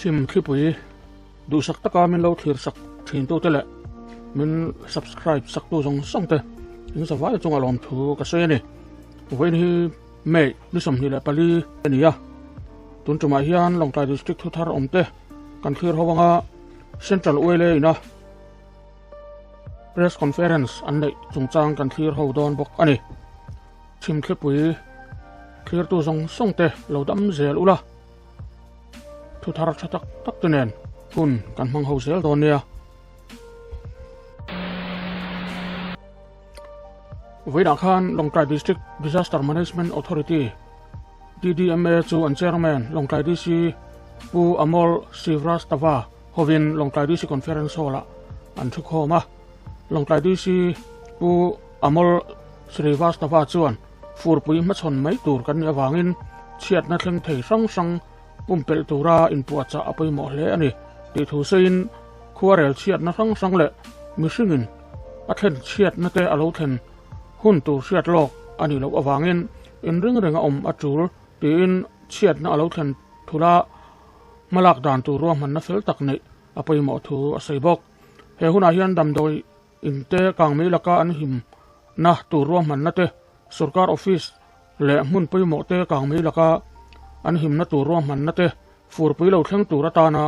chim thlipui duhsak taka min lo thlir sak thin tu te leh min subscribe sak tu zawng zawng te in zavai chunga lawm thu ka sawi a ni vawiin hi May ni sawmhnih leh pali a ni a, tun tumah hian Lawngtlai District thu thar awm te kan thlir ho anga Central Uele ina Press Conference an neih chungchang kan thlir ho dawn bawk a ni. Chhim thlipui thlirtu zawng zawng te lo dam zel ula thu thar tha tak tak te nen hun kan hmang ho zel dawn nia. Vawilah khan Lawngtlai District Disaster Management Authority, DDMA, chu an Chairman Lawngtlai DC Pu Amol Srivastava hovin Lawngtlai DC Conference Hall-ah an thu khawm a. Lawngtlai DC Pu Amol Srivastava chuan furpui hmachhawn mai tur kan nih avangin chhiatna thleng thei hrang hrang pumpelh tura inpuahchah a pawimawh hle a ni tih thu seiin khuarel chhiatna hrang hrang leh mihringin a thlen chhiatna te a lo thlen hun tur hriat lawk a nih loh avangin in ring ring a awm a tul tiin chhiatna a lo thlen thul a hmalak dan tur ruahmanna fel tak neih a pawimawh thu a sawi bawk he hunah hian damdawi In te, kang mai laka an him na tur ruahmanna te, sorkar office leh hmun pawimawh te kang mai laka an him na tur ruahmanna te, furpui lo thleng tur atana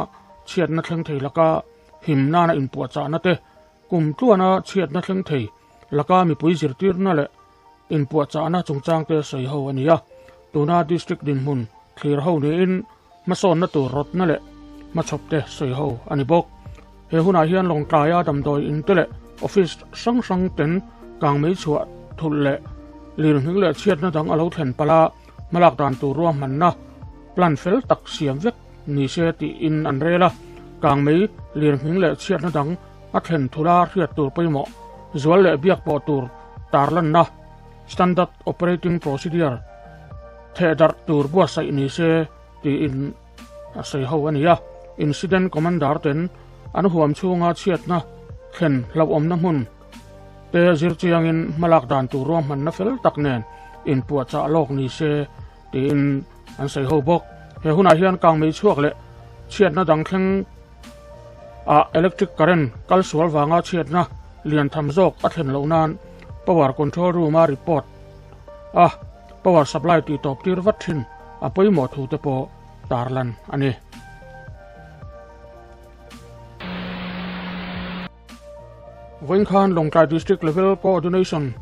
chhiatna thleng thei laka him nana inpuahchahna te, kum tluana chhiatna thleng thei laka mipui zirtirna leh Inpuahchahna chungchangte sawi ho a ni a, tuna district dinhmun thlir ho niin hmasawnna tur rawtna leh hmachhawpte sawi ho a ni bawk. He hunah hian Lawngtlaia damdawi in te leh office hrang hrangten kang mei chhuah thulh leh lirhning leh chhiatna dang a lo thlen pal a, hmalak dan tur ruahmanna plan fel tak siam vek ni se tiin an rel a, kang mei lirhning leh chhiatna dang a thlen thula hriat tur pawimawh, zual leh biak pawh tur tarlanna, standard operating procedure, theh darh tur buatsaih ni se tiin a sawi ho a ni a. Incident Commander ten an huam chhunga chhiatna thlen hlauhawmna hmun te zir chiangin hmalak dan tur ruahmanna fel tak nen inpuahchah lawk ni se, Tiin an sawi ho bawk. He hunah hian kang mei chhuak leh chhiatna dang thleng ah electric current kal sual vanga chhiatna lian tham zawk a thlen loh nan Power Control Room a report a power supply tih tawp tir vat thin a pawimawh thu te pawh tarlan a ni. Vawikhan Lawngtlai District Level Coordination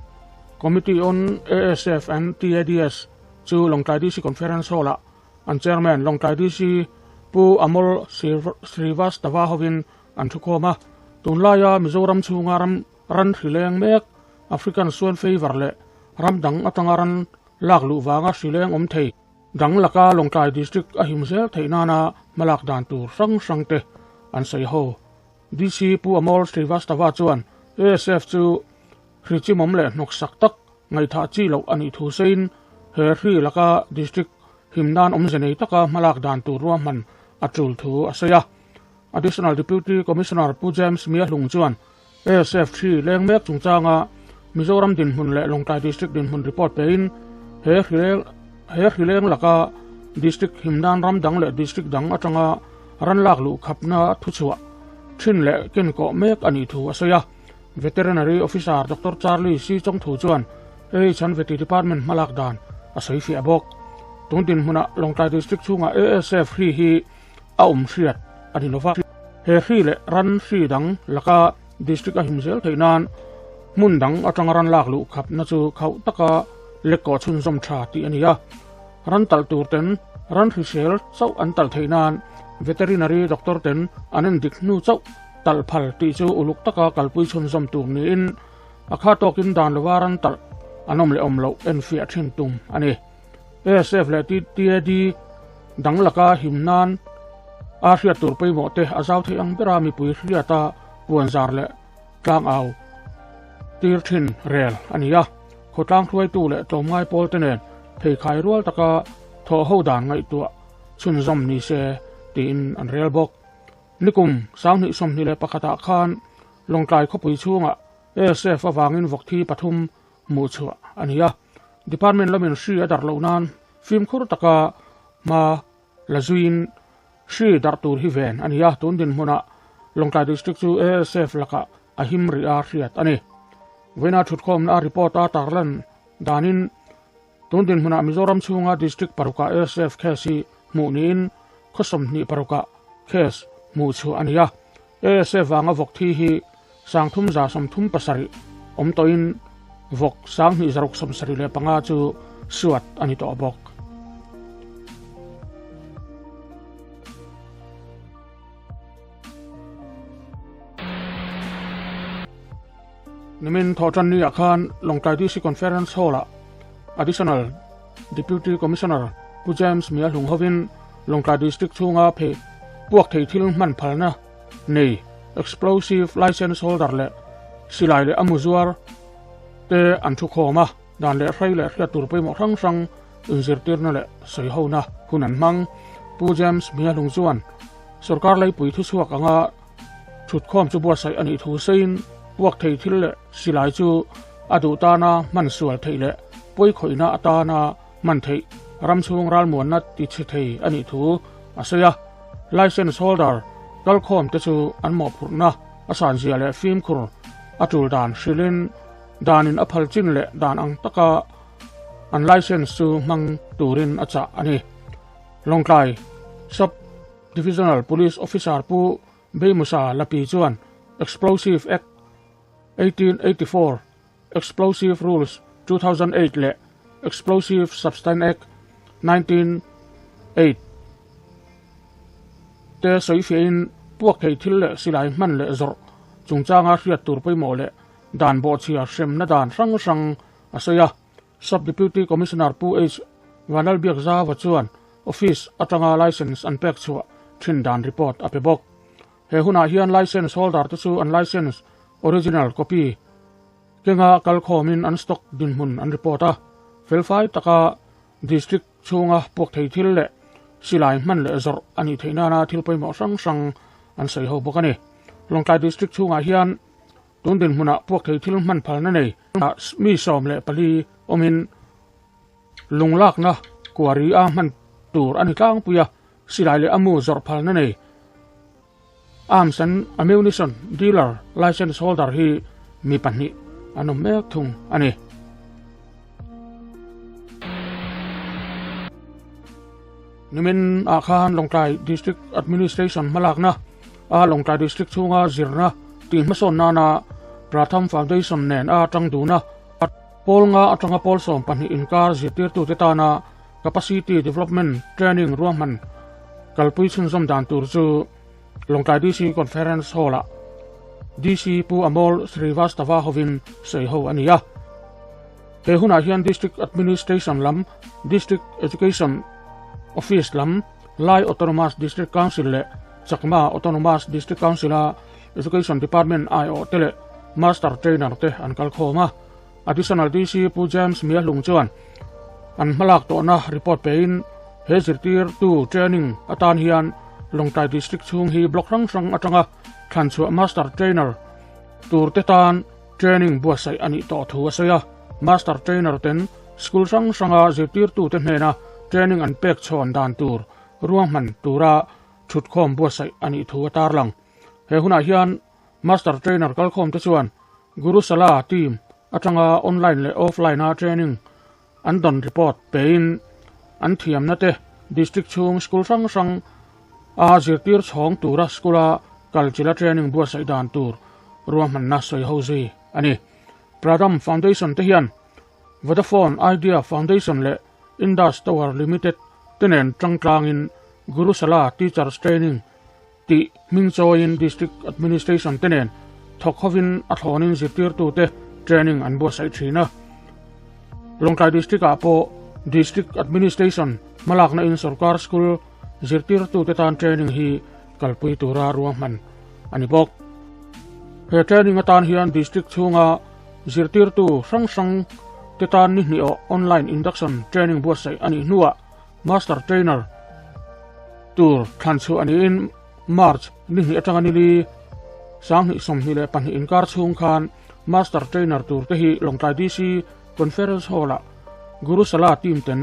Committee on ASF and TADS chu Lawngtlai DC Conference Hall ah an Chairman Lawngtlai DC Pu Amol Srivastava hovin an thu khawm a. Tunlaia Mizoram chhunga ram ran hri leng mek African Swine Fever leh ram dang atanga ran lak luh vanga hri leng awm thei dang laka Lawngtlai District a him zel theih nana hmalak dan tur hrang hrangte an sawi ho. DC Pu Amol Srivastava chuan ASF chu hri chimawm leh hnawksak tak ngaihthah chi loh a nih thu seiin he hri laka district him nan awmze nei taka hmalak dan tur ruahman a tul thu a sawi a. Additional Deputy Commissioner Pu James Mia Hlung chuan ASF hri leng mek chungchanga Mizoram dinhmun leh Lawngtlai District dinhmun report pein he hri leng laka district him nan ram dang leh district dang atanga ran lak luh khapna thuchhuah thin leh ken kawh mek a nih thu a sawi a. Veterinary Officer Doctor Charlie Sii Chong Thu chuan AH an Veti Department hmalak dan a sawi fiah bawk. Tun dinhmunah Lawngtlai District chhungah ASF hri hi a awm hriat a ni lova. He hri leh ran hri dang laka District a him zel theih nan hmun dang atanga ran lak luh khapna chu khauh taka lekawh chhunzawm tha tih a ni a. Ran talh turten ran hrisel chauh an talh theih nan Veterinary Doctor ten an en dik hnu chauh talh phal tih chu uluk taka kalpui chhunzawm tur niin a kha tawkin dan lova ran talh an awm leh awm loh enfiah thin tum a ni. ASF leh TTAD dang laka him nan a hriat tur pawimawh te a zau theih ang bera mipui hriata puan zar leh Tlang au tir thin rel a ni a, khawtlang hruaitu leh tlawmngai pawl te nen pheikhai rual taka thaw ho dan ngaihtuah chhunzawm ni se tiin an rel bawk. Nikum sanghnih sawmhnih leh pakhatah khan Lawngtlai khawpui chhungah ASF avangin vawkthi pathum hmuh chhuah a ni a, Department lamin hri a dar loh nan fimkhur taka hma La zuiin hri darh tur hi ven a ni a, tun dinhmunah Lawngtlai District chu ASF lakah a him rih a hriat a ni. Vawiina Thutkhawmna report a tarlan danin tun dinhmunah Mizoram chhunga District parukah ASF case hi hmuh niin khawsawm hnih parukah case hmuh chhuah a ni a, ASF vanga vawk thi hi sangthum za sawmthum pasarih awm tawhin vawk sang hnih zaruk sawm sarih leh panga chu suat a ni tawh bawk. Nimin thaw tannia khan Lawngtlai DC Conference Hall-ah Additional Deputy Commissioner Pu James Mia Hlung hovin Lawngtlai District chhunga phe puak thei thil hman phalna nei, Explosive Licence Holder leh silai leh a muzuar te an thu khawm a. Dan leh hrai leh hriat tur pawimawh hrang hrang inzirtirna leh sawihona hun an hmang. Pu James Mialung chuan sorkar laipui thuchhuak anga thutkhawm chu buatsaih a nih thu seiin puak thei thil leh silai chu a duh tana hman sual theih leh pawi khawihna atana hman theih ramchhung ralmuanna tichhe thei a nih thu a sawi a. Licence holder kalkhawmte chu an mawhphurhna a sanzia leh fimkhur a tul dan hrilhin, danin a phal chin leh dan ang taka an licence chu hmang turin a chah a ni. Lawngtlai Sub Divisional Police Officer Pu Beimusa Lapi chuan Explosive Act eighteen eighty four, Explosive Rules two thousand eight leh Explosive Substance Act nineteen eight te sawi fiahin puak theih thil leh silai hman leh zawrh chungchanga hriat tur pawimawh leh dan bawhchhia hremna dan hrang hrang a sawi a, Sub Deputy Commissioner Pu H Vanlalbiak Zava chuan office atanga licence an pek chhuah thin dan report a pe bawk. He hunah hian licence holder te chu an licence original copy kenga kal khawmin an stock dinhmun an report a, felfai taka District chhunga puakthei thil leh silai hman leh zawrh a nih theih nana thil pawimawh hrang hrang an sawi ho bawk a ni. Lawngtlai District chhungah hian. Tundin hmunah puakthei thil hman phalna nei ah mi sawm leh pali awmin lung lakna kuari a hman tur a ni tlangpui a, silai leh amu zawrh phalna nei arms and ammunition dealer licence holder hi mi pahnih an awm mek thung a ni. Nimin ah khan Lawngtlai District Administration hmalakna. A Lawngtlai District chhunga zirna tihmahsawn nana Pratham Foundation nen a tang dun a, a Pawl nga atanga pawl sawm pahnih inkar zirtirtute tana Capacity Development Training ruahman kalpui chhunzawm dan tur chu Lawngtlai DC Conference Hall-a DC Pu Amol Srivastava hovin sawi ho a ni a. He hunah hian District Administration lam, District Education Office lam, Lai Autonomous District Council leh Chakma Autonomous District Council-a Education Department IO te leh Master Trainer te an kal khawm a, Additional DC Pu James Mia Hlung chuan an hmalak tawhna report pein he zirtirtu training atan hian Lawngtai District chhung hi block hrang hrang atanga thlanchhuah Master Trainer turte tan training buatsaih a nih tawh thu a sawi a, Master Trainer ten school hrang hranga zirtirtute hnena training an pek chhawn dan tur ruahman tura Thutkhawm buatsaih a nih thu a tarlang. He hunah hian Master Trainer kalkhawmte chuan Guru Sala team atanga online leh offline-a training an dawn report peiin an thiamnate District chhung School hrang hrang a zirtir chhawng tura School-a kalchila training buatsaih dan tur ruahmanna sawi ho zui a ni. Pradham Foundation-te hian Vodafone Idea Foundation leh Indus Tower Limited te nen changtlangin Gurusala Teachers Training tih hming chawiin District Administration te nen thawk hovin a thlawnin zirtirtute training an buatsaih thin a. Lawngtlai District-ah pawh District Administration hmalaknain sawrkar school zirtirtute tan training hi kalpui tura ruahman a ni bawk. He training atan hian District chhunga Zirtirtu hrang hrang te tan nihniawh online induction training buatsaih a nih hnuah Master Trainer tur thlan chhuah niin March nihnih atanga nili Sanghnih sawmhnih leh pahnih inkar chhung khan Master Trainer tur te hi Lawngtlai DC Conference Hall a Guru Sala team ten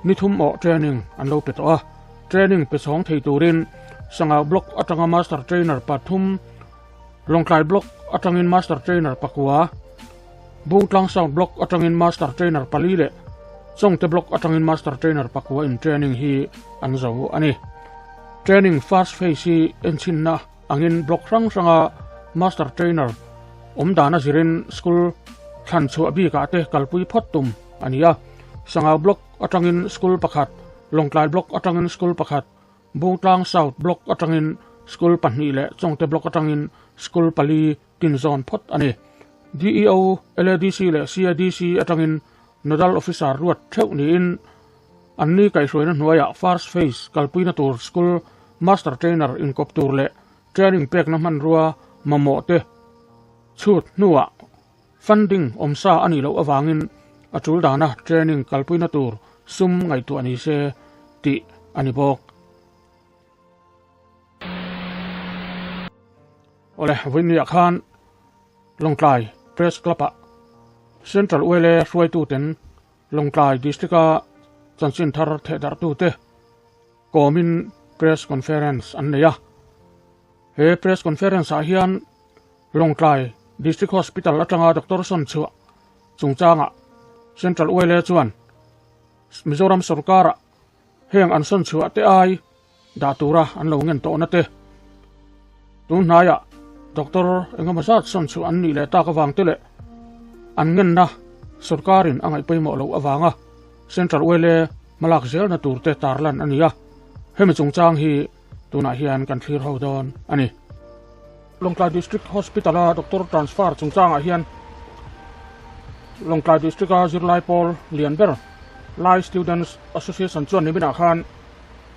ni thum awh training an lo pe tawh a. Training pe chhawng thei turin Sangha Block atanga Master Trainer pathum Lawngtlai Block atangin Master Trainer pakua, Bungtlang South Block atangin Master Trainer pali leh Chawngte Block atangin Master Trainer pakua in training hi an zo a ni. Training First Phase hi enchinna angin block hrang hranga Master Trainer awm dan a zirin school thlan chhuah bikah te kalpui phawt tum a ni a. Sangau Block atangin school pakhat, Lawngtlai Block atangin school pakhat, Butlang South Block atangin school pahnih leh Chawngte Block atangin school pali tin zawn phawt a ni. DEO, LADC leh CIDC atangin Nodal Officer ruat theuh niin an ni kaihhruaina hnuaiah First Phase kalpuina tur school Master Trainer inkawp tur leh Training pekna hmanrua mamawhte chhut hnuah Funding awm sa a nih loh avangin a tul dana training kalpuina tur sum ngaihtuah ni se tih a ni bawk. Awle vawinia khan Lawngtlai Press Club ah Central Uele hruaituten Lawngtlai District a chanchin thar thehdarhtute Kawmin press conference an nei a. He press conference ah hian Lawngtlai District Hospital atanga Doctor Sawn Chhuah chungchangah Central Uaile chuan Mizoram sawrkara heng an sawn chhuah te ai dah tura an lo ngen tawhna te, Tunhnaiah, doctor engemaw zat sawn chu an nih leh tak avangte leh an ngenna sawrkarin a ngaih pawimawh loh avanga Central Oil e hmalak zelna turte tarlan a ni a, hemi chungchang hi tunah hian kan thlir ho dawn a ni. Lawngtlai District Hospital-a doctor transfer chungchangah hian Lawngtlai District-a zirlai pawl lian ber Lai Students Association chuan niminah khan,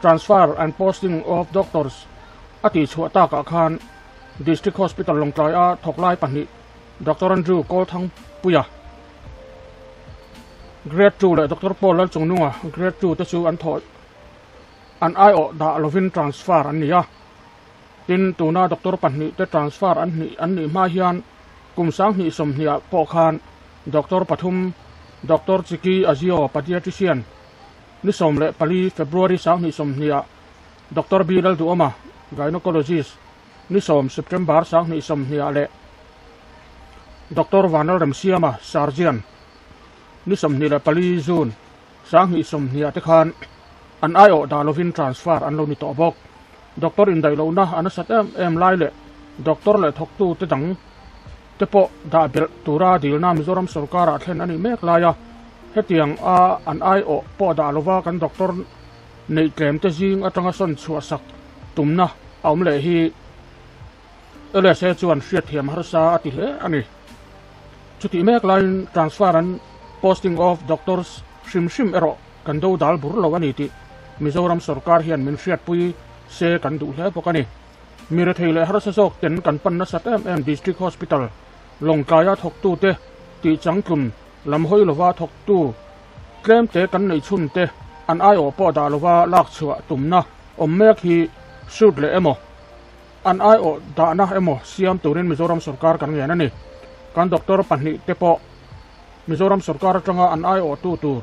Transfer and Posting of Doctors a tih chhuah takah khan District Hospital Lawngtlai-a thawklai pahnih Doctor Andrew Kawlthangpuia, Grade Two, leh Doctor Paul Lalchungnunga, Grade Two, te chu an thawh an aiawh dah lovin transfer an ni a. Tin, tuna doctor pahnih te transfer an hnih an nih hma hian kum sang hnih sawmhniah pawh khan Doctor pathum, Doctor Chiki Azio, Padiatrician, Ni sawm leh pali, February, Sang hnih sawmhniah, Doctor B. Lalduoma, Gynaecologist, Ni sawm, September, Sang hnih sawmhniah leh Doctor Vanal Remsiama, Surgeon, Ni sawmhnih leh pali, June, Sang hnih sawmhniah te khan an aiawh dah lovin transfer an lo ni tawh bawk. Doctor indaih lohna a nasat em em lai leh Doctor leh thawktute dang, te pawh dah belh tura dilna Mizoram sorkar ah thlen a nih mek lai a, hetiang a an aiawh pawh dah lova kan doctor neih tlem te zing atanga sawn chhuah sak tumna a awm leh hi LSA chuan hriatthiam harsa a ti hle a ni. Chutih mek laiin transfer an posting of doctors hrim hrim erawh kan do dal bur lo a ni tih Mizoram sorkar hian min hriatpui se kan duh hle bawk a ni. Mirethei leh harsa zawk ten kan pan nasat em em District Hospital Lawngtlaia thawktu te, tihchang tlum lam hawi lova thawktu tlem te kan neih chhun te an aiawh pawh dah lova lak chhuah tumna awm mek hi shoot leh emaw an aiawh dahna emaw siam turin Mizoram sawrkar kan ngen a ni. Kan doctor pahnih te pawh Mizoram sawrkar atanga an aiawhtu tur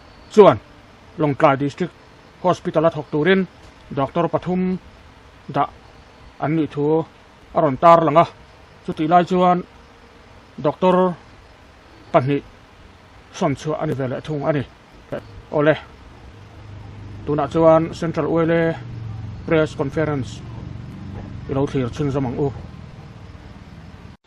chuan Lawngtlai District Hospital a thawk turin doctor pathum dah an nih thu a rawn tar lang a. Chutih lai chuan doctor pahnih sawn chhuah a ni ve leh thung a ni. Awle, tunah chuan Central Uele Press Conference i lo thlir chhinzawm ang u.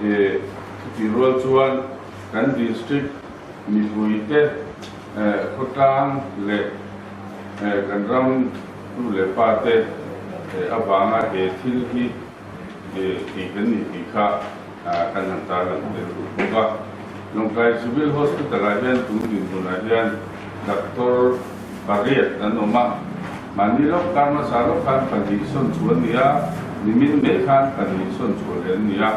He khawtih rual chuan kan district mihlui te, khawtlang leh kan ram tu leh pa te avanga he thil hi tih kan nih tih kha kan han tarlan tel duh bawk a. Lawngkai Civil Hospital-ah hian tum dinhmunah hian Doctor, pariat an awm a, mahni lawk khan hmasa lawk khan pahnih sawn chhu an ni a, nimin mai khan pahnih sawn chhu leh an ni a.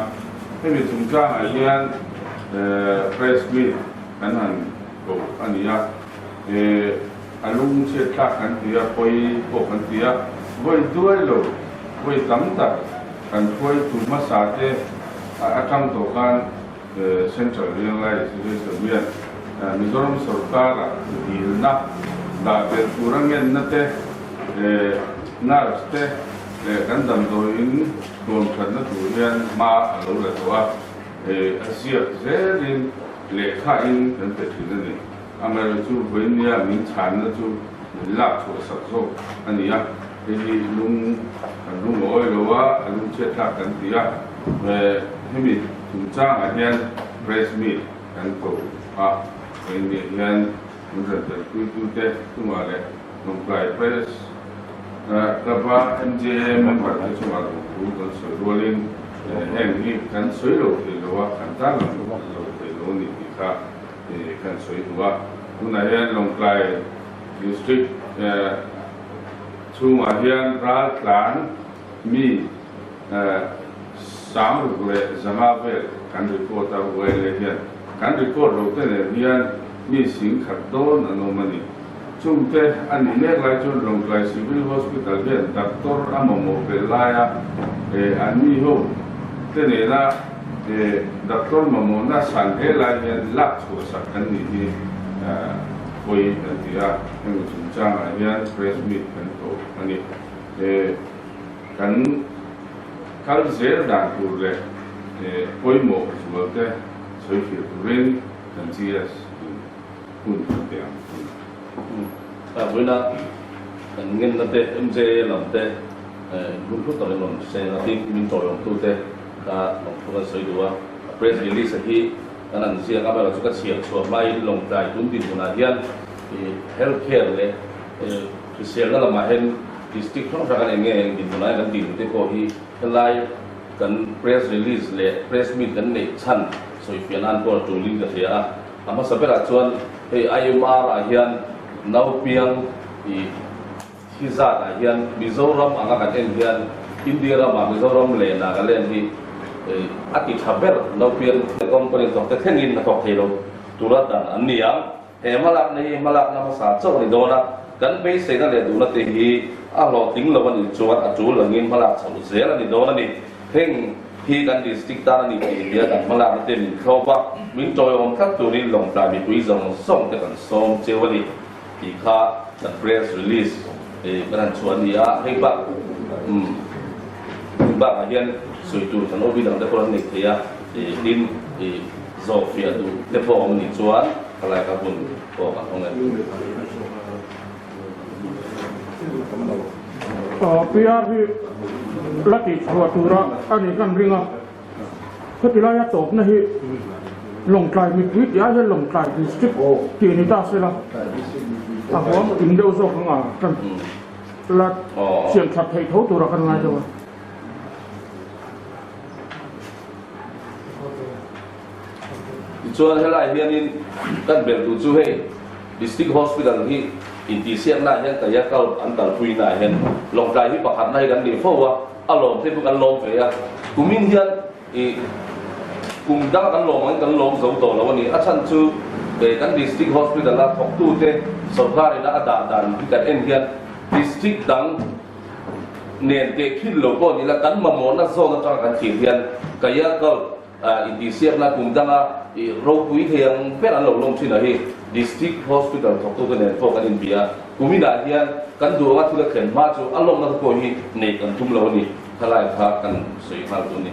Hemi chungchangah hian press meet kan han ko a ni a, a lung chhiatthlak kan ti a, pawi pawh kan ti a, vawi duai lo, vawi tam tak kan hruaitu hmasa te a tang tawh khan, Central Rianglai Thilheihsa hian Mizoram sawrkara dilna dah ber tur a ngenna te leh nurse te leh kan damdawiin tuam thatna tur hian hma a lo la tawh a, a ziak zelin lehkhain kan pe thin a ni. Amaherawhchu vawinliamin chhanna chu min lak chhuah sak zawk a ni a. Hemi lung kan hung loawi lo a, a lung chhiatthlak kan ti a, hemi chungchangah hian press meet kan ko a, kei nge hian min ranpelpuitute chunga leh Hnawmklai Press Club a MJA member te chunga kan thu kan sawi rualin heng hi kan sawi lo thei lo a, kan tan lo hmuh lo thei lo a ni tih kha kan sawi hnu a, tunah hian Lawngtlai District Chhungah hian ral tlan mi sang ruk leh zanga vel kan report a, ruaile hian kan report lo te leh hian mi sing khat dawn an awm a ni. Chungte a ni mek lai chuan Rawngtlai Civil Hospital hian doctor a mamawh belh laia an miho te nena, He Doctor Mamona san he lai hian lak chhuah sak an nih hi pawi kan ti a, hemi chungchang ah hian press meet kan tawh a ni. He kan kal zel dan tur leh he pawimawh zual te sawi fir turin kan GS in hun kan pe ang a ni. Ka hmuin a kan ngen na te MJA lam te in hun hlut ang in rawn seng a tih min tawih awm tu te. Ka lawng thu kan sawi duh a, a press release a hi kan an ziak a, amaherawhchu ka chhiar chhuah hmain lawng tlai tum tih hunah hian health care leh hriselna lamah hian district hrang hrang kan en nge eng tih hunah hian kan tihlu te pawh hi helai kan press release leh press meet kan neih chhan sawi fiah nan pawh a tulin ka hria a. A hmasa berah chuan hei IMR ah hian naupiang ih. Hi zat ah hian Mizoram anga kan en hian India ram ah Mizoram leh Nagaland hi a ti tha ber no pian leh company zawk te thleng in a thawk thei lo tura dan an ni ang. He hmalak na hi hmalak na hmasa chauh a ni dawn a, kan beisei na leh duh na te hi a hlawh ting lo a nih chuan a tul ang in hmalak chhoh zel a ni dawn a ni. Heng hi kan district tan a ni tih hian an hmalak na te min thlawp a, min tawihawm tlat tur in Lawngtlai mipui zawng zawng te kan sawm cheu a ni. Tih kha the press release hi kan han chhuah a ni a, hei bak umm hei bakah hian sawi tur kan awm hi dangte pawh an nei thei a, tin zawhfiah duh te pawh awm nih chuan khawlai ka hun pawh ka hmu nge. Piar hi la tih chhuah tura a nih hlan ring a. Khawti laia tawpna hi Lawngtlai mipui tiah hian Lawngtlai District tih a ni ta sela, a huam in deuh zawk anga kan la siamthat theih tho tura kan ngai deuh a. Tichuan helai hianin kan belh tu chu hei District Hospital hi intihsiaknaah hian Kaiak Out an kalpuinaah hian Lawngtlai hi pakhatna hi kan ni fo a. A lawm phei bawk an lawm ve a, kumin hian ih kum dang an lawm angin kan lawm zo tawh lo a ni. A chhan chu eh kan district hospital a thawktu te sorkar in a dah dan hi kan en hian district dang nen tehkhil lo pawh nila kan mamawhna zone atanga kan tih hian Kayakal Intihsiakna kum danga ropui thei ang ber an lo lawm thin a hi District Hospital thawktute nen pawh kan inbia a, kum inah hian kan duh anga thil a thlen hma chu a lawmna te pawh hi nei kan tum lo a ni, khalai kha kan sawi nghal tur a ni.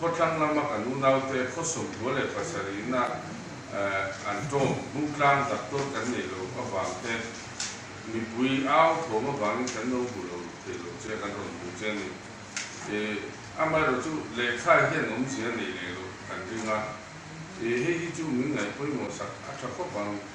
Khawtlang lama kan unaute khawsawmhua leh pasarihna an tawm hmutlang tak dawn kan nei lo avangte mipui au thawm avangin kan nauhmu lo thei lo che kan rawn hmuh che ni. I, amaherawh chu lehkhai hian awmzia nei leh loh kan ring a, i, hei hi chu min ngaihpawimawhsak a tha khawp ang.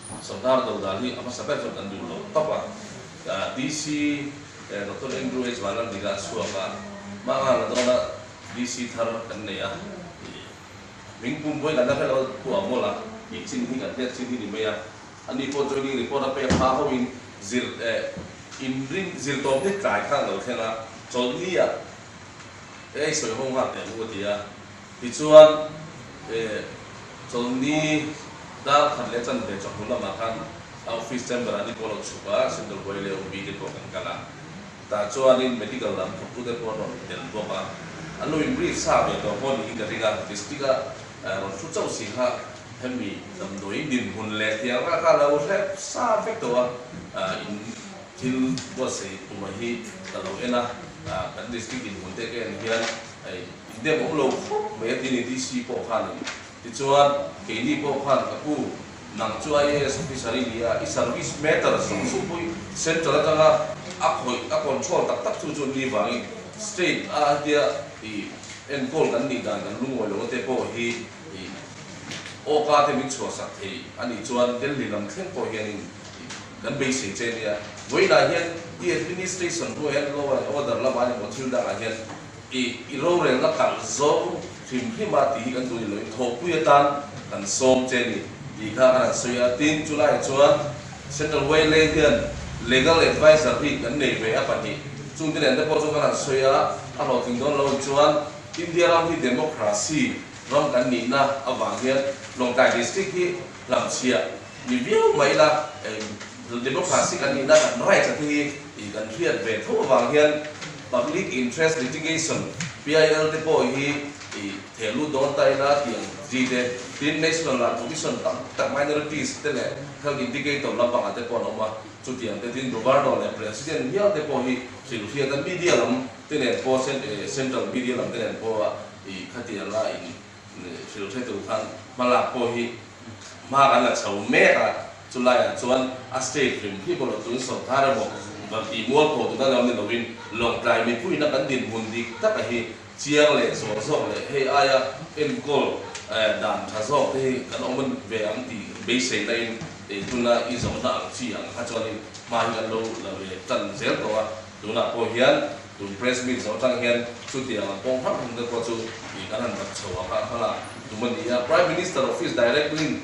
Sawmdar do dan hi a hmasa ber chuan kan duh lo tawp a. DC Doctor Andrew H. Vanarvika a chhuak a, Hmanga la dawn a DC thar kan nei a ni. Min pumpuai kan la hre lo pawh a mawlh a, i chin hi kan hliat chin hi ni mai a. Ani pawh joining report a pek hma ho in zir inring zir tawp hlek tlai kha an lo thleng a, chawlhni ah ei sawi ho nghak teh a mu a ti a. Tichuan, he Chawlhni darkhat leh chanve chawhmul lamah khan a office chamber an inpawh lo chhup a, Sendor Buai leh Awmbi te pawh kan kal a. Tah chuanin medical lam thawktu te pawh an rawn intel bawk a. An lo inrih sa ve tawh pawh niin ka ring a, district a rawn thu chauh si kha hemi damdawiin dinhmun leh thianghra kha a lo hlep sa vek tawh a, in thil buatsaih tumah hi ka lo en a, kan district dinhmun te ka en hial. Hei, i dem awm lo khawp mai a ti ni DC pawh khan in. Tichuan, keini pawh khan ka pu, nang chu IAS officer i ni a, i service matter zawk zawk pawh hi central atanga a khawih, a control tak tak chu chu ni vangin state a hetia i enkawl kan nih dan kan lungawi lo te pawh hi i awkate min chhuahsak thei a nih chuan Delhi lam thleng pawh hianin, Kan bei sei che nia. Vawiinah hian i administration hnuai hian law and order lama ni maw thil dangah hian i i rorelna karh zawng hrim hrim a tih hi kan duhnih lohin thawhpui atan kan sawm che ni tih kha kan han sawi a. Tin, chu laiah chuan Central Wailey hian legal advisor hi kan nei ve a pahnih chung te nen te pawh chu kan han sawi a. A hlawhtling dawn loin chuan India ram hi democracy ram kan nihna avang hian Lawngkai district hi, Hlahchhia mi viau mai la democracy kan nihna tak rights te hi i kan hriat ve tho avang hian public interest litigation, PIL, te pawh hi i theh lut dawn ta ila tiang chi te tin national ral commission tam tak minorities te leh health indicator lampanga te pawh an awm a, chutiang te tin governor leh president viau te pawh hi hrilh hriat a media lam te nen pawh central media lam te nen pawh i khatial a in Hrilh hretu khan hmalak pawh hi hma kan la chho mek a, chu laiah chuan a state hlim phih pawh lo tlun sawrtar emaw va ti mual pawh dun a lo ni loin lawngtlai mipuinak an dinhmun dik tak a hi chiang leh zawh zawk leh hei aia enkawl dan tha zawk te hi kan awm ve ang tih beiseina in ei tuna i zawhna ang chi ang kha chuan in hma hi kan lo la ve tan zel tawh a. Tunah pawh hian tun press meet zawh atang hian chuti ang an pawng harh hung te pawh chu ih kan han rak chho ang kha a hmang a, tumania Prime Minister Office direct in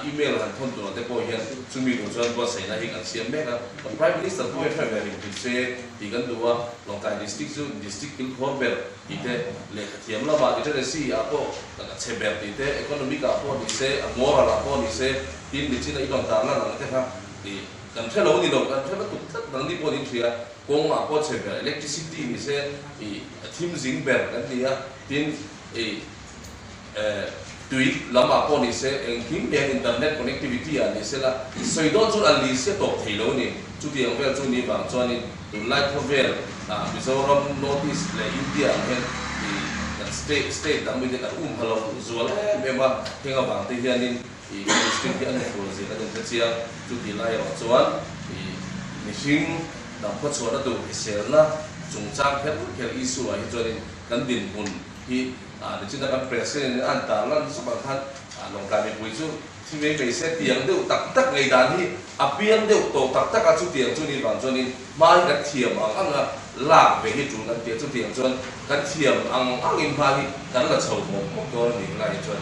email han thawn tur ang te pawh hian chumi lung chuan buatsaihna hi kan siam mek a, kan Prime Minister pawh hi hre ve ringtut se tih kan duh a, Lawngkai District chu District kilkhawr ber tih te, lehkha thiam lama literacy ah pawh a chhe ber tih te, economic ah pawh ni se, moral ah pawh ni se, tin nichin a inawm tarlar ang te kha tih. Kan hre lo ni lo, kan hre lutuk tlat nang ni pawh ni thria, kawng mah pawh chhe ber electricity ni se i a thim zing ber kan ni a, tin i tui lam ah pawh ni se engkim hliam internet connectivity ah ni se la sawi dawn chu a li sia tawp thei lo ni, chuti ang vel chu ni vang chuan in tunlai khawvel ah Mizoram, North East leh India ang hian i kan state state dang mitin an um ha lo duh zual em em a, heng avang te hian in i Muslim te an ni tur zir a nun ta chiang. Chutih lai erawh chuan i mihring hnam khawchhuahna tur hriselna chungchang kher vut kher Isua hi chuanin kan dinhmun hi a ni chhin a, kan prayer session in a han tar lan zuk ang khan a lawngtlai mipui chu thivei mai se tiang deuh tak tak ngei dan hi a piang deuh tawh tak tak a, chutiang chu ni vang chuanin hma hi kan thiam ang ang a, lak ve hi tun an ti a, chutiang chuan kan thiam ang angin hma hi kan la chho hmawk hmawk dawn a nih lai chuan.